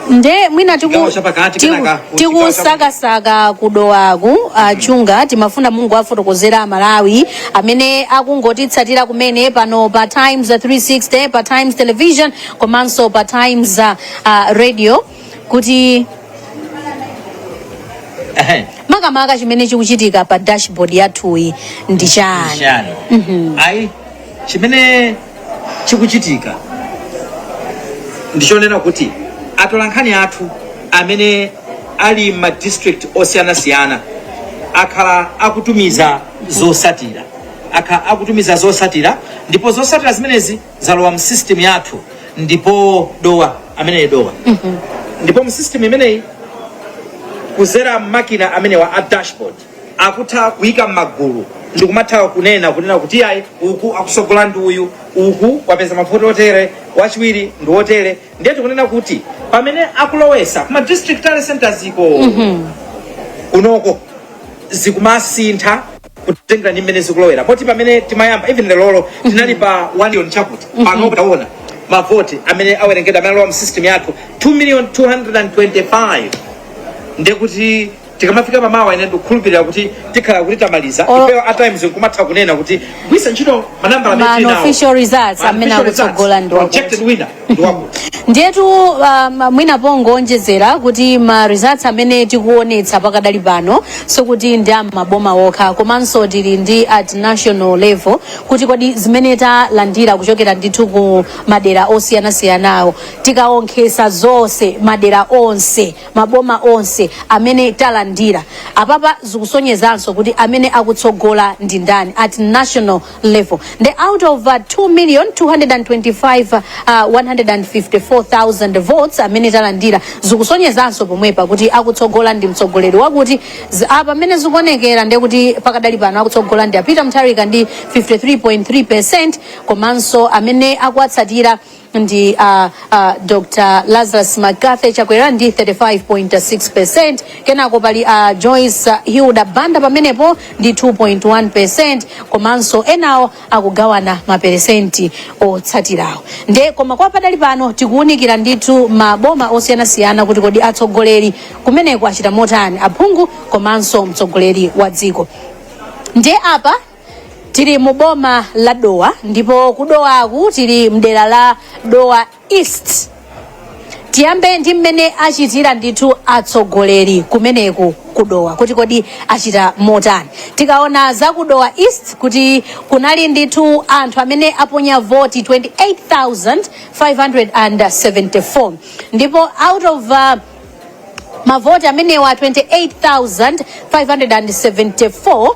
nde mwina tiku- Chigawo chapakati tiku- kenaka ku chigawo tikusakasaka kudowaku a Chunga timafuna mungu afotokozera amalawi amene akungotitsatira kumene pano pa times 360 pa times television komanso pa times uh, uh, radio kuti Ehe. makamaka chimene chikuchitika pa dashboard yathuyi ndi chani Shani. Ayi chimene chikuchitika ndichonena kuti atolankhani athu amene ali m'ma district osiyanasiyana akhala akutumiza zosatira akhala akutumiza zosatira ndipo zosatira zimenezi zalowa mu system yathu ndipo dowa ameneyi dowa ndipo mu system imeneyi kuzera m'makina amenewa a dashboard akutha kuyika m'magulu ndikumatha kunena kunena kuti ayi uku akusogola ndi uyu uku wapeza mavoti otere wachiwiri ndi otere ndiye tikunena kuti pamene akulowesa kuma district tally centers iko kunoko zikumasintha kutengera ndi mmene zikulowera poti pamene timayamba even lerolo tinali pa 1 million chakuti pano taona mavoti amene awerengedwa amene alowa mu system yathu 2 million 225 ndekuti tikamafika pamawa ine ndikukhulupirira kuti tikhala kuti tamaliza Olo- ifeyo a times nkumatha kunena kugwiritsa ntchito manambala amene Ma tili nawo. unofficial results Ma amene unofficial results, akutsogola ndi wakuti. projected winner ndi wakuti ndiyetu um, mwina pongoonjezera kuti ma results amene tikuonetsa pakadali pano sikuti ndi a m'maboma okha komanso tili ndi at national level kuti kodi zimene talandira kuchokera ndithu ku madera osiyanasiyanawo tikaonkhesa zonse madera onse maboma onse amene talandira apapa zikusonyezanso kuti amene akutsogola ndi ndani at national level nde out of uh, 2 million 225 uh, 154,000 votes amene talandira zikusonyezanso pomwepa kuti akutsogola ndi mtsogoleri wakuti Z- apa mmene zikuonekera ndi kuti pakadali pano akutsogola ndi a Peter Mutharika ndi 53.3 percent komanso amene akuwatsatira ndi a, uh, Dr. Lazarus McCarthy Chakwera ndi 35.6%, kenako pali a Joyce uh, Hilda Banda pamenepo ndi 2.1%, komanso enawo akugawana maperesenti otsatirawo. Nde koma kwa pakadali pano tikuwunikira ndithu maboma osiyanasiyana kuti kodi atsogoleri kumeneko achita motani aphungu komanso mtsogoleri wa dziko. Nde apa tili mu boma la dowa ndipo kudowaku tili mdera la dowa east tiyambe ndi mmene achitira ndithu atsogoleri kumeneku kudowa kuti kodi achita motani tikaona za kudowa east kuti kunali ndithu anthu amene aponya voti 28574 ndipo out of uh, mavoti amenewa 28574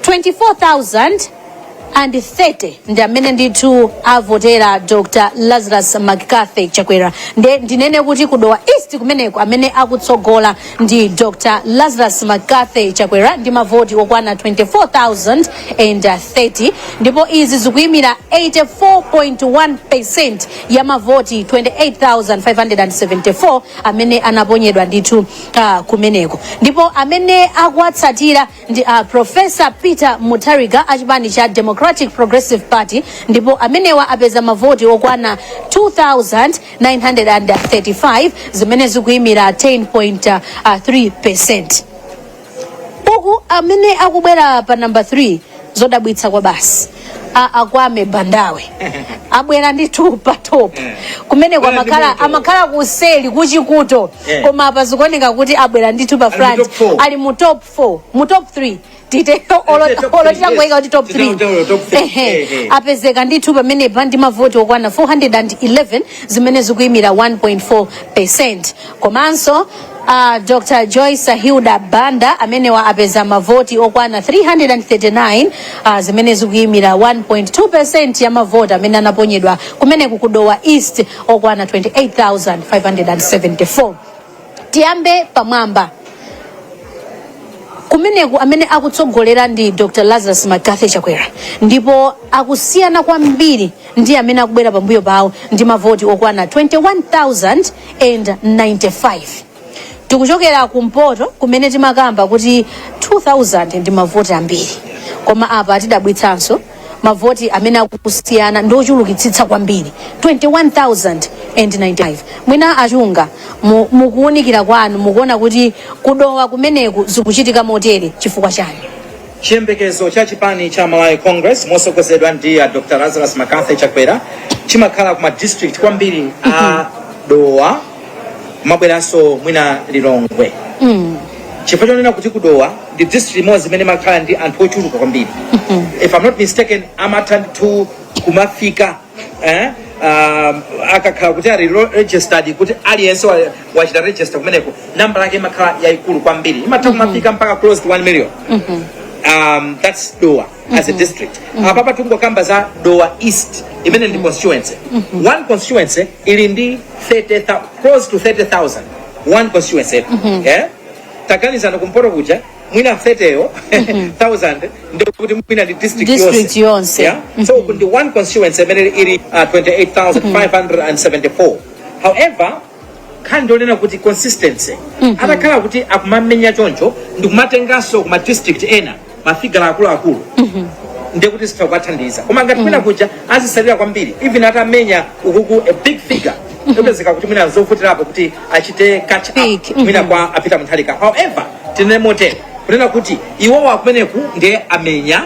24,030 ndi amene ndithu avotera dr lazarus mccarthy chakwera nde ndinene kuti kudowa east kumeneko amene akutsogola ndi dr lazarus mccarthy chakwera ndi mavoti okwana 24,030 ndipo izi zikuyimira 84.1 percent ya mavoti 28,574 amene anaponyedwa ndithu kumeneko ndipo amene akuwatsatira ndi a profesa peter mutharika a chipani cha democratic progressive party ndipo amenewa apeza mavoti okwana 2935 zimene zikuyimira 10.3 percent uku amene akubwera pa namba 3 zodabwitsa kwabasi a akwame bandawe abwera ndithu pa top kumeneko amakhala kuseli kuchikuto Eh. koma apa zikuoneka kuti abwera ndithu pa front ali mu top 4 mu top 3 titeko olo titangoika kuti top 3 Eh, eh. apezeka ndithu pamenepa ndi mavoti okwana 411 zimene zikuyimira 1.4 percent komanso uh, dr joyce hilda banda amenewa apeza mavoti okwana 339 uh, zimene zikuyimira 1.2 percent ya mavoti amene anaponyedwa kumeneku kudowa east okwana 28574 tiyambe pamwamba kumeneku amene akutsogolera ndi dr lazarus mccarthy chakwera ndipo akusiyana kwambiri ndi amene akubwera pambuyo pawo ndi mavoti okwana 21,095 tikuchokera kumpoto kumene timakamba kuti 2,000 ndi mavoti ambiri koma apa tidabwitsanso mavoti amene akusiyana ndi ochulukitsitsa kwambiri 21,095 mwina achunga mu kuwunikira kwanu mukuona kuti kudowa kumeneku zikuchitika motere chifukwa chani Chiyembekezo cha chipani cha Malawi Congress mosogozedwa ndi a Dr. Lazarus McCarthy Chakwera chimakhala kuma district kwambiri a Dowa mubwerenso mwina Lilongwe chifukwa chonena kuti kudowa ndi district imodzi imene imakhala ndi anthu ochuluka kwambiri if I'm not mistaken amatha ndithu kumafika eh, um, akakhala kuti ali lo- registered kuti aliyense wa- wachita register kumeneko nambala yake imakhala yayikulu kwambiri imatha kumafika mpaka close to 1 million um, that's Dowa as a district apapa tikungokamba za Dowa East imene ndi constituency one constituency ili ndi 30, thou- close to 30000 one constituency eh? taganizani kumpoto kuja mwina 30 yo 1000 ndiye kuti mwina ndi district District yonse. yonse. Yeah? So ndi one constituency imene ili uh, 28574. However, nkhani ndi yonena kuti consistency atakhala kuti akumamenya choncho ndikumatenganso kuma district ena mafigala akuluakulu ndiye kuti zitha kuwathandiza koma ngati mwina kuja azisalira kwambiri even atamenya ukuku a big figure yopezeka kuti mwina zovutirapo kuti achite catch up Speak. Mhm. mwina kwa a Peter Mutharika however tinene motere kunena kuti iwowo akumeneku ndiye amenya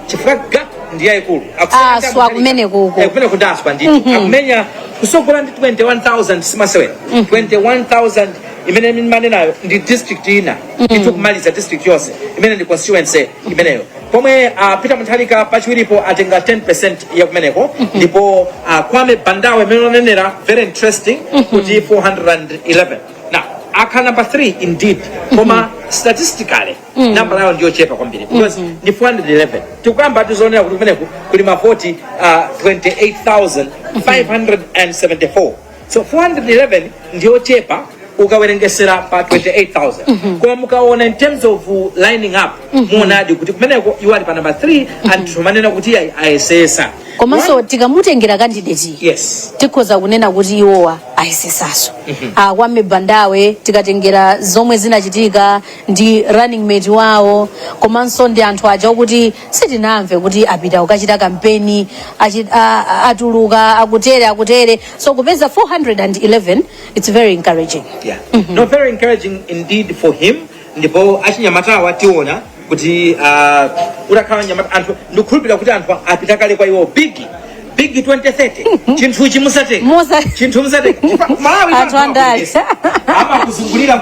chifukwa gap ndiye yayikulu Akusiyana ndi Aswa Mutharika. kumeneku uko. Eh, kumeneku ndi aswa ndithu Mhm. akumenya kusogola ndi 21000 simasewera 21000 imene ndimanenayo ndi district ina ndithu kumaliza district yonse imene ndi constituency imeneyo pomwe uh, Peter Mutharika pachiwiripo atenga 10% ya kumeneko ndipo uh, kwame bandawe mmene unanenera very interesting kuti 411 now akhala number 3 indeed koma statistically nambala yawo ndiyochepa kwambiri because ndi 411 tikuyamba tizionera kuti kumeneko kuli mavoti uh, 28574 so 411 ndiyochepa ukawerengesera pa 28000 koma mukaona in terms of uh, lining up muonadi kuti kumeneko iwo ali pa number 3 and tikumanena kuti ayi ayesesa komanso tikamutengera kandideti yes tikhoza kunena kuti iwowa ayesesaso akwame bandawe tikatengera zomwe zinachitika ndi running mate wawo komanso ndi anthu aja okuti sitinamve kuti apita kukachita kampeni achi- a- a- atuluka akutere akutere so kupeza 411 it's very encouraging Yeah. No, very encouraging indeed for him. Ndipo achinyamatawa tiona kuti uh, utakhala mnyamata anthu ndikukhulupirira kuti anthu apita kale kwa iwo big big 2030 chinthu chimusateka Musa- chinthu musateka Malawi Anthu andale. amakuzungulira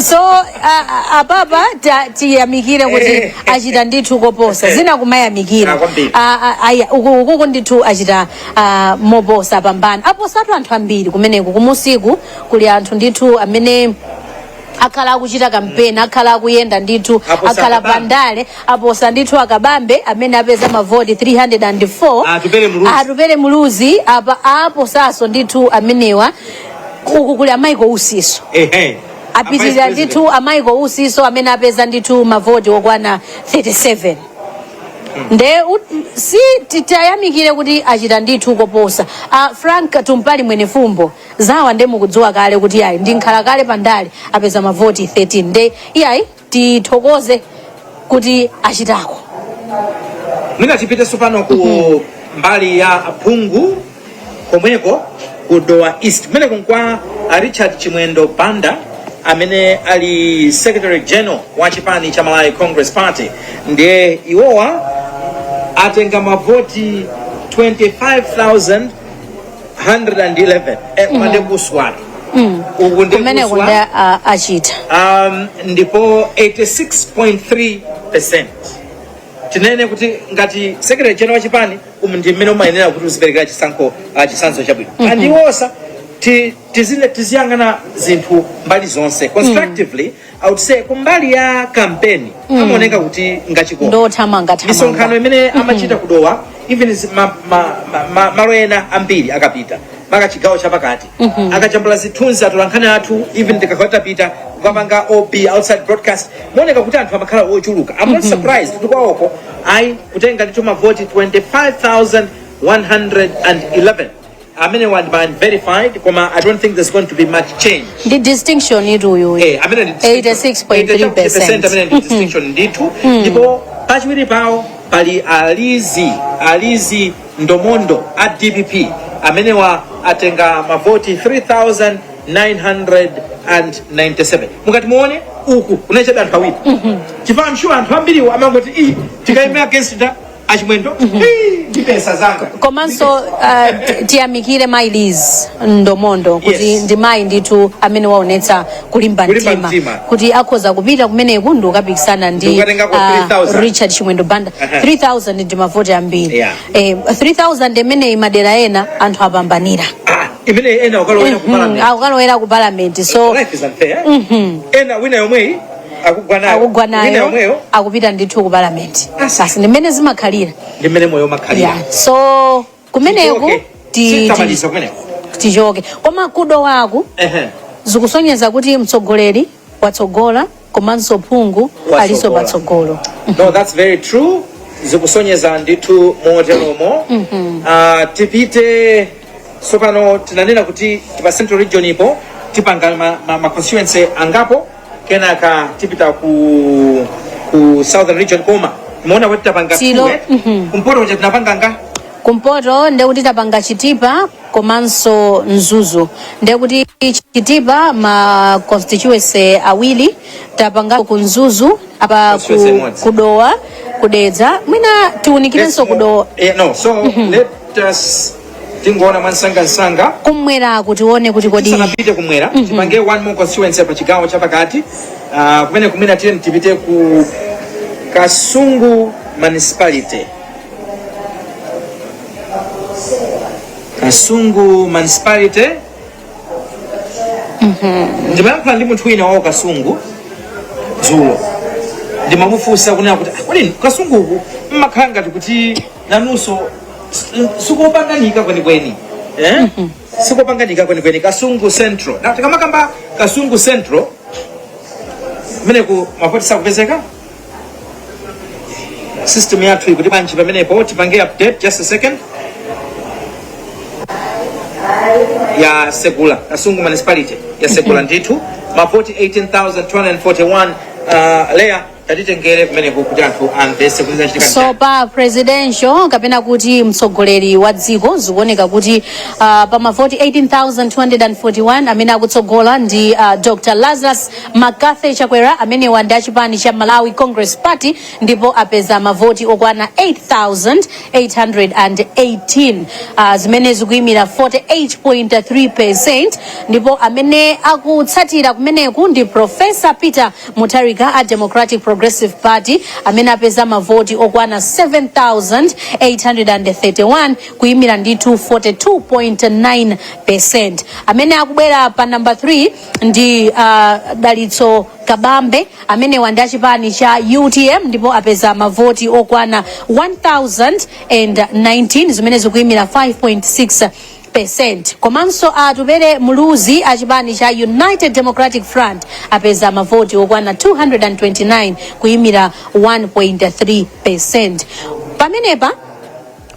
so uh, apapa ta- tiyamikire kuti achita ndithu koposa zina kumayamikira Ah, kwambiri. Ah, ah, aya, uku ukuku ndithu achita ah, moposa pambana aposatu anthu ambiri kumeneku kumunsiku kuli anthu ndithu amene akhala akuchita kampeni akhala akuyenda ndithu Aposa akhala akabambe. pandale aposa ndithu akabambe amene apeza mavoti 304 Atupele Muluzi. atupele muluzi apa aposaso ndithu amenewa uku kuli a michael usinso ehe apitirira ndithu a michael usinso amene apeza ndithu mavoti okwana 37 nde u- si titayamikire kuti achita ndithu koposa a frank tumpale mwenifumbo zawa nde mukudziwa kale kuti ayi ndi nkhalakale pa ndale apeza mavoti 13 nde iyayi tithokoze kuti achitako mwina tipite tsopano ku mbali ya phungu komweko ku dowa east kumeneko nkwa a richard chimwendo banda amene ali secretary general wa chipani cha malawi congress party ndiye iwowa atenga mavoti 25000 111 eh, koma ndi kuswali uku ndi kumeneko ndi kuswa a- achita um, ndipo 86.3 percent tinene kuti ngati secretary general wa chipani umu ndi mmene umayenera kuti uziperekera chisankho uh, chitsanzo chabwino mm -hmm. and also ti- tizine- tiziyang'ana zinthu mbali zonse constructively I would say kumbali ya kampeni mm. amaoneka kuti ngachikoka ndothamanga misonkhano thamanga imene amachita ku dowa even zi- ma- ma- ma- ma- malo ena ambiri akapita maka chigawo chapakati akajambula zithunzi atolankhani athu even tikakhala tapita kukapanga ob outside broadcast mooneka kuti anthu amakhala ochuluka i'm not surprised kuti kwawoko ayi kutenga ndithu mavoti 25111 amenewa ndi ma unverified koma i don't think there's going to be much change ndi distinction itu uyu Eh, amene ndi 86.3%. amene ndi distinction ndithu ndipo pachiwiri pawo pali a liz a liz ndomondo a dpp amenewa atenga mavoti 3997 mukati muone uku unachita anthu awiri chifukwa i'm sure anthu ambiriwo amangoti iyi tikaima against nda a chimwendo Hii, ndibetsa zanga komanso uh, ti- tiyamikire mayi liz ndomondo kuti Yes. ndi mayi ndithu amene waonetsa kulimba Kulimba mtima mtima. kuti akhoza kupita kumeneku ndikukapikisana ndi Ndikukatengako ah, 3,000. richard chimwendo banda Aha. 3000 ndi mavoti ambiri Yeah. eh, 3000 imeneyi madera ena anthu apambanira Ah, imene ena kukalowera Mhm, kumalamya akukalowera ku parliament so life is unfair ena wina yomweyi akugwa nayo akugwa Wina nayo yomweyo akupita ndithu ku parliament Asa. basi ndi mmene zimakhalira ndi mmene moyo umakhalira yeah. so kumeneku Tichoke. ti- ti- Sitamaliza kumeneko tichoke koma ku dowaku Ehe. zikusonyeza kuti mtsogoleri watsogola komanso phungu Watsogola. aliso patsogolo no that's very true zikusonyeza ndithu moteromo Ah, tipite tsopano tinanena kuti pa central region ipo tipanga ma, ma, ma constituency angapo kenaka tipita ku ku southern region koma muona kuti tapanga Silo, tuwe. mhm. kumpoto kuja tinapanga nga kumpoto ndekuti tapanga chitipa komanso mzuzu ndekuti chitipa ma constituency awiri tapanga ku mzuzu apa Constituency ku, imodzi. kudowa kudedza mwina tiunikirenso kudowa Eh, no so let us tingoona mwansangansanga kumwera kuti tione kuti kodi sanapite kumwera tipange one more constituency pa chigawo cha pakati Ah, kumene kumene tiyeni tipite ku kasungu municipality kasungu municipality ndimayankhula ndi munthu wina wawo kasungu dzulo ndimamufunsa kunena kuti "Ah, kodi kasunguku mmakhala ngati kuti nanunso sikupanganika kwenikweni eh? sikupanganika kwenikweni kasungu central na tikamakamba kasungu central meneku mavoti sakupezeka system yathu ikuti panja pamenepo tipange update just a second yatsegula kasungu municipality yatsegula ndithu mavoti 18241 uh, leya tatitengere kumeneko kuti anthu amvese kuti zachitika ndi so pa presidential kapena kuti mtsogoleri wa dziko zikuoneka kuti uh, pa mavoti 18241 amene akutsogola ndi uh, dr lazarus mccarthy chakwera amenewa ndi achipani cha malawi congress party ndipo apeza mavoti okwana 8818 uh, zimene zikuyimira 48.3 percent ndipo amene akutsatira kumeneku ndi professor peter Mutharika a Democratic Progressive Party amene apeza mavoti okwana 7,831 kuyimira ndithu 42.9%. Amene akubwera pa number 3 ndi uh, Dalitso Kabambe amenewa ndi achipani cha UTM ndipo apeza mavoti okwana 1,019 zimene zikuyimira 5.6 percent komanso atupere muluzi a chipani cha united democratic front apeza mavoti okwana 229 kuyimira 1.3 percent pamenepa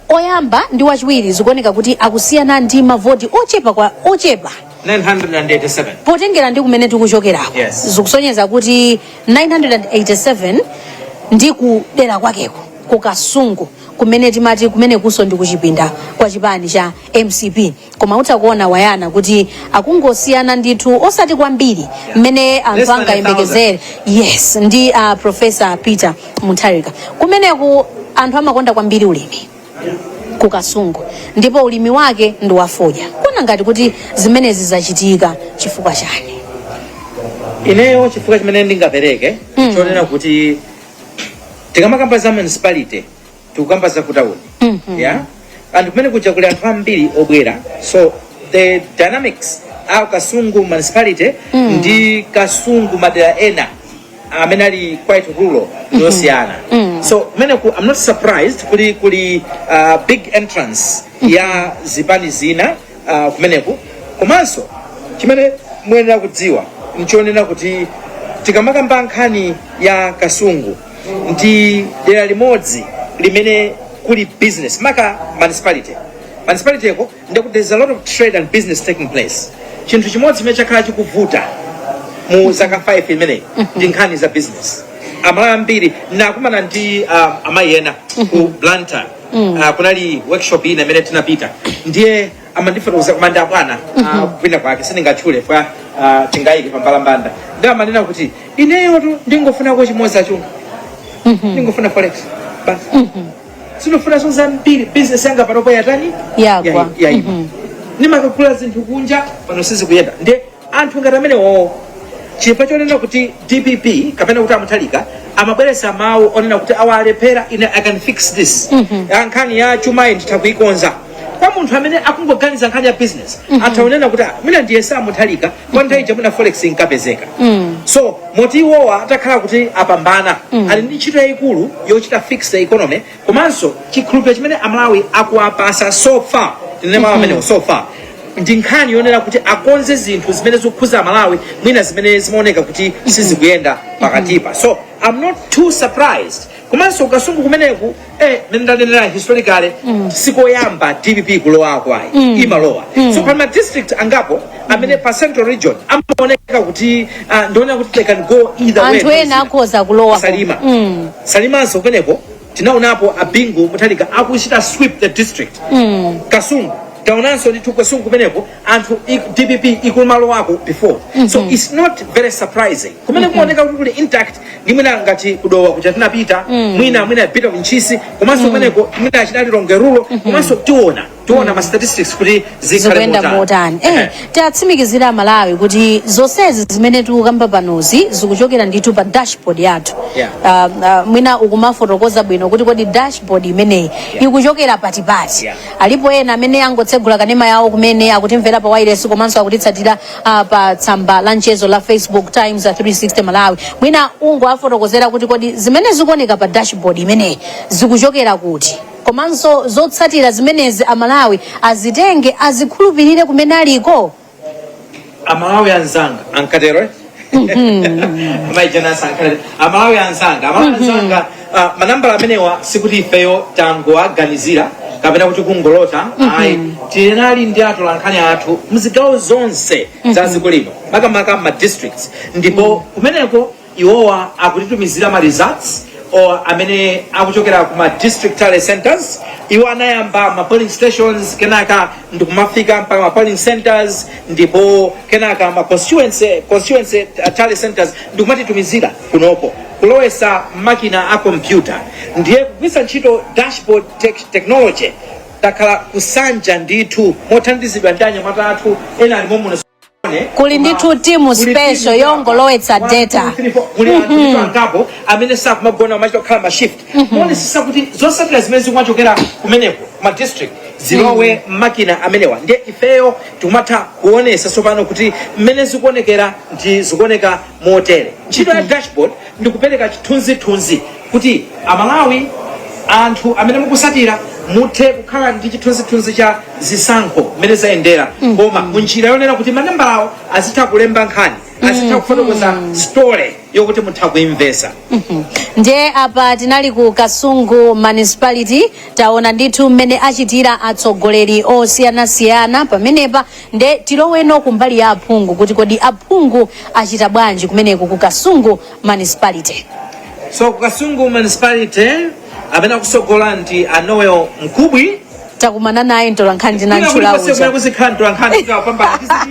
oyamba ndi wachiwiri zikuoneka kuti akusiyana ndi mavoti ochepa kwa ochepa 987. potengera ndi kumene tikuchokerako Yes. zikusonyeza kuti 987 ndi kudera kwakeko ku kasungu kumene timati kumenekunso ndi kuchipinda kwa chipani cha mcp koma utha kuona wayana kuti akungosiyana ndithu osati kwambiri mmene anthu angayembekezere yes ndi a profesa peter mutharika kumeneku anthu amakonda kwambiri ulimi ku kasungu ndipo ulimi wake ndi wafodya kuona ngati kuti zimenezi zachitika chifukwa chani ineyo chifukwa chimene ndingapereke chonena kuti tikamakamba za municipality tikukamba za kutauni yeah and kumene kuja kuli anthu ambiri obwera so the dynamics a kasungu municipality ndi kasungu madera ena amene ali quite rural yosiyana so kumene ku i'm not surprised kuli kuli uh, big entrance ya zipani zina uh, kumeneku komanso chimene muyenera kudziwa nchonena kuti tikamakamba nkhani ya kasungu ndi dera limodzi limene kuli business maka municipality ko ndikuti there's a lot of trade and business taking place chinthu chimodzi chimene chakhala chikuvuta mu zaka 5 imeneyi ndi nkhani za business amalawi ambiri nakumana ndi uh, amayi ena ku blantyre uh, kunali workshop ina imene tinapita ndiye amandifotokoza kuti ndi abwana uh, kwina kwake sindingatchule kwao tingayike pambalambanda ndiye amanena kuti ineyotu ndingofuna chimodzi achunga ndingofuna forex basi sindifunanso zambiri business yanga panopo yatani Yaima. yaima ndimakagula zinthu kunja pano sizikuyenda nde anthu ngati amenewo chifukwa chonena kuti dpp kapena kuti amutharika amabweretsa mawu onena kuti awa alephera ine i can fix this Ah, nkhani ya chumayi nditha kuyikonza kwa munthu amene akungoganiza nkhani ya business atha kunena kuti "Ah, mwina ndiyese amutharika pa nthawi ija mwina forex inkapezeka so moti iwowa atakhala kuti apambana ali ndi ntchito yayikulu yochita fix the economy komanso chikhulupiriro chimene amalawi akuwapatsa so far tinene mawu amenewo so far ndi nkhani yonena kuti akonze zinthu zimene zikukhuza amalawi mwina zimene zimaoneka kuti sizikuyenda pakatipa so i'm not too surprised komanso ku kasungu kumeneku eh, mene ndanenera historically sikoyamba dpp kulowa ayi imalowa so pa ma district angapo amene pa central region amaoneka kuti uh, ndi onena kuti they can go either way anthu ena akhoza kulowa Salima. Mm. salimanso kumeneko tinaonapo a bingu mutharika akuchita sweep the district mm. kasungu taonanso ndithu kasungu kumeneko anthu i- dpp ikumalowako before mm-hmm. so its not very surprising kumene mm-hmm. kuoneka kuti kuli intact ndi mwina ngati ku dowa kuja tinapita mm. mwina a bit of ntchisi komanso kumeneko mm. mwina a chunk lilongwe rural mm-hmm. komanso tiona tiona ma statistics kuti zikhale zikuyenda motani. motani eh, Ehe. tiwatsimikizire amalawi kuti zonsezi zimene tikukamba panozi zikuchokera ndithu pa dashboard yathu Yeah. Ah, ah, mwina ukumafotokoza bwino kuti kodi dashboard imeneyi ikuchokera patipati Yeah. alipo ena amene angotsegula kanema yawo kumene akutimvera pa wailesi komanso akutitsatira ah, pa tsamba la mchezo la facebook times ah, 360 malawi mwina ungowafotokozera kuti kodi zimene zikuoneka pa dashboard imeneyi zikuchokera kuti komanso zotsatira zimenezi amalawi azitenge azikhulupirire kumene aliko amalawi anzanga ankatero eh? a mai Jane Ansah ankatero amalawi anzanga amalawi anzanga ah, manambala amenewa sikuti ifeyo tangowaganizira kapena kuti kungolota ayi tinali ndi atolankhani athu mzigawo zonse za dziko lino makamaka ma districts ndipo kumeneko iwowa akutitumizira ma results or amene akuchokera ku ma district tally centers iwo anayamba ma polling stations kenaka ndikumafika mpaka ma polling centers ndipo kenaka ma constituency constituency uh, tally centers ndikumatitumizira kunoko kulowesa mmakina a kompyuta ndiye kugwisa ntchito dashboard tech technology takhala kusanja ndithu mothandizidwa ndi anyamata athu ena ali momuno kuli ndithu timu special yongolowetsa data kulipo angapo amene sakumagona machita akhala ma shift kuonesesa kuti zosatira zimene zikumachokera kumeneko ma district zilowe mmakina amenewa ndiye ifeyo tikumatha kuonesa tsopano kuti mmene zikuonekera ndi zikuoneka motere ntchito ya dashboard ndi kupereka chithunzithunzi kuti amalawi anthu amene mukusatira muthe kukhala ndi chithunzithunzi cha zisankho mmene zayendera koma munjira yonena kuti manambalawo azitha kulemba nkhani azitha kufotokoza story yokuti mutha kuimvesa ndiye apa tinali ku kasungu municipality taona ndithu mmene achitira atsogoleri osiyanasiyana pamenepa nde tiloweno kumbali ya aphungu kuti kodi aphungu achita bwanji kumeneko ku kasungu Municipality. So ku Kasungu Municipality amene akusogola ndi a Noel Mkubwi. Takumana naye ntolankhani Kwina tinantchula kulikonse kumene uja. kuzikhala ntolankhani tikapambana tiziti.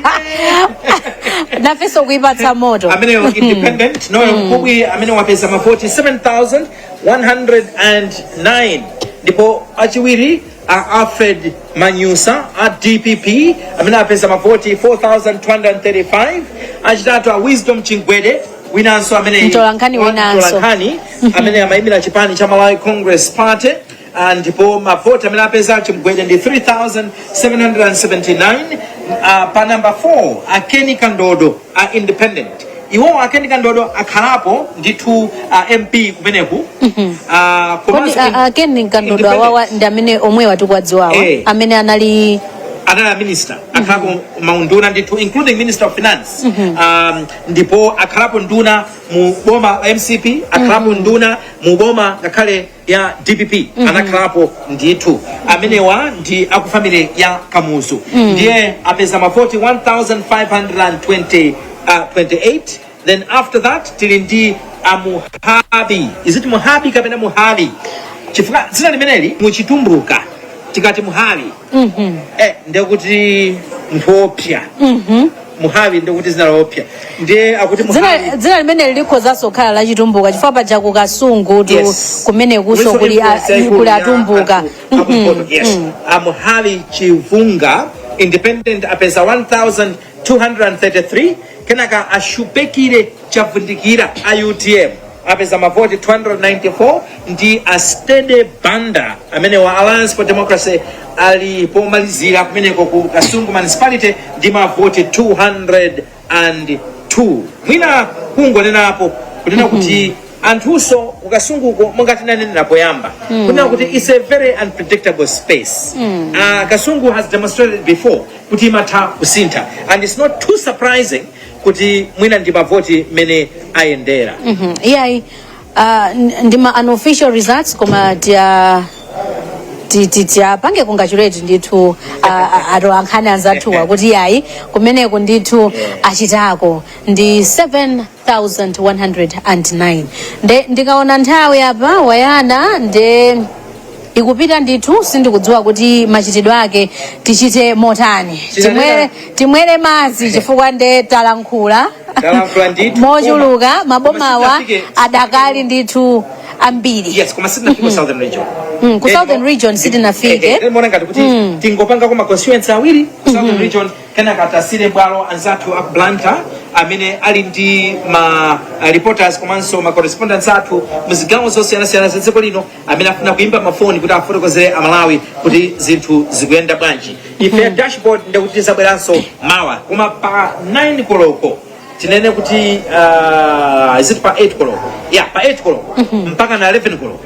Nafenso kuipatsa moto. amene wa independent Noel Mkubwi amene wapeza mavoti 7109 ndipo achiwiri a alfred manyusa a dpp amene apeza mavoti 4235 achitatu a wisdom chimgwede winanso amene Mtolankhani wa- winanso. mtolankhani amene amayimira chipani cha malawi congress party Ah, ndipo mavoti amene apeza chimgwede ndi 3779 Ah, pa namba 4 a ken kandodo a independent iwowo a ken kandodo akhalapo ndithu uh, mp kumeneku uh, kodi komanso a- in- a ken kandodo independent. awawa ndi amene omwe tikuwadziwawa Eh. amene anali anali a minister akhalapo maunduna ndithu including minister of finance um, ndipo akhalapo nduna mu boma la mcp akhalapo nduna mu boma ngakhale ya dpp anakhalapo ndithu amenewa ndi akufamily ya kamuzu ndiye apeza mavoti 1528 then after that tili ndi amuhabi is it muhabi kapena muhavi chifukwa dzina limeneli muchitumbuka tikati muhavi eh, ndekuti mphopya muhavi ndekuti dzina lopya ndiye akuti dzina muhavi dzina limeneli likhozanso kukhala la chitumbuka chifukwa paja ku kasungutu Yes. kumenekuso Wiso kuli a- influence yaikulu kuli ya atumbuka anthu Mhm. akumpoto, yes. amuhavi chisunga independent apeza 1233 kenaka ashupekire chavundikira a utm apeza mavoti 294 ndi a Steady Banda amenewa a Alliance for Democracy ali pomalizira kumeneko ku Kasungu Municipality ndi mavoti 202 mwina kungonenapo kunena kuti anthuso ku Kasunguko monga tinanenera poyamba kunena kuti it's a very unpredictable space uh, Kasungu has demonstrated before kuti imatha kusintha and it's not too surprising kuti mwina ndi mavoti mmene ayendera Mhm, iyayi ah, n- ndi ma unofficial results koma tiya ti- ti- tiyapange congratulate ndithu ah, ah, atolankhani anzathuwa kuti iyayi kumeneko ndithu achitako ndi 7109 nde ndikaona nthawi apa wayana nde ikupita ndithu sindikudziwa kuti machitidwe ake tichite motani timwere, timwere madzi chifukwa nde talankhula Talankhula ndithu. mochuluka Koma- mabomawa koma sitinafike- adakali ndithu ambiri yes koma sitinafike ku southern region Mm, ku Eh, southern mo- region eh, sitinafike. eh, eh, ndiona ngati kuti tingopanga ko ma constituency awiri ku southern region kenaka tasiyire bwalo anzathu a ku blantyre amene ali ndi ma uh, reporters komanso ma correspondents athu mu zigawo zosiyanasiyana za dziko lino amene afuna kuimba mafoni kuti afotokozere amalawi kuti zinthu zikuyenda bwanji ife dashboard ndekuti tizabweranso mawa koma pa 9 koloko tinene kuti uh, is it pa 8 koloko yeah pa 8 koloko mpaka na 11 koloko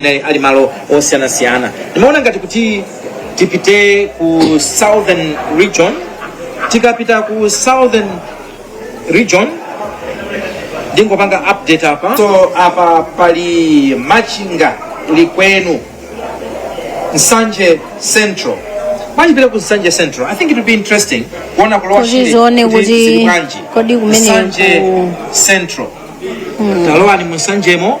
amene ali malo osiyanasiyana ndimaona ngati kuti tipite ku southern region tikapita ku southern region ndingopanga update apa so apa pali machinga likwenu nsanje central tikapita ku nsanje central i think it would be interesting kuona ku Lower Kuti Shire tione kuti zili bwanji. kodi kumene Nsanje ku- central talowani musanjemo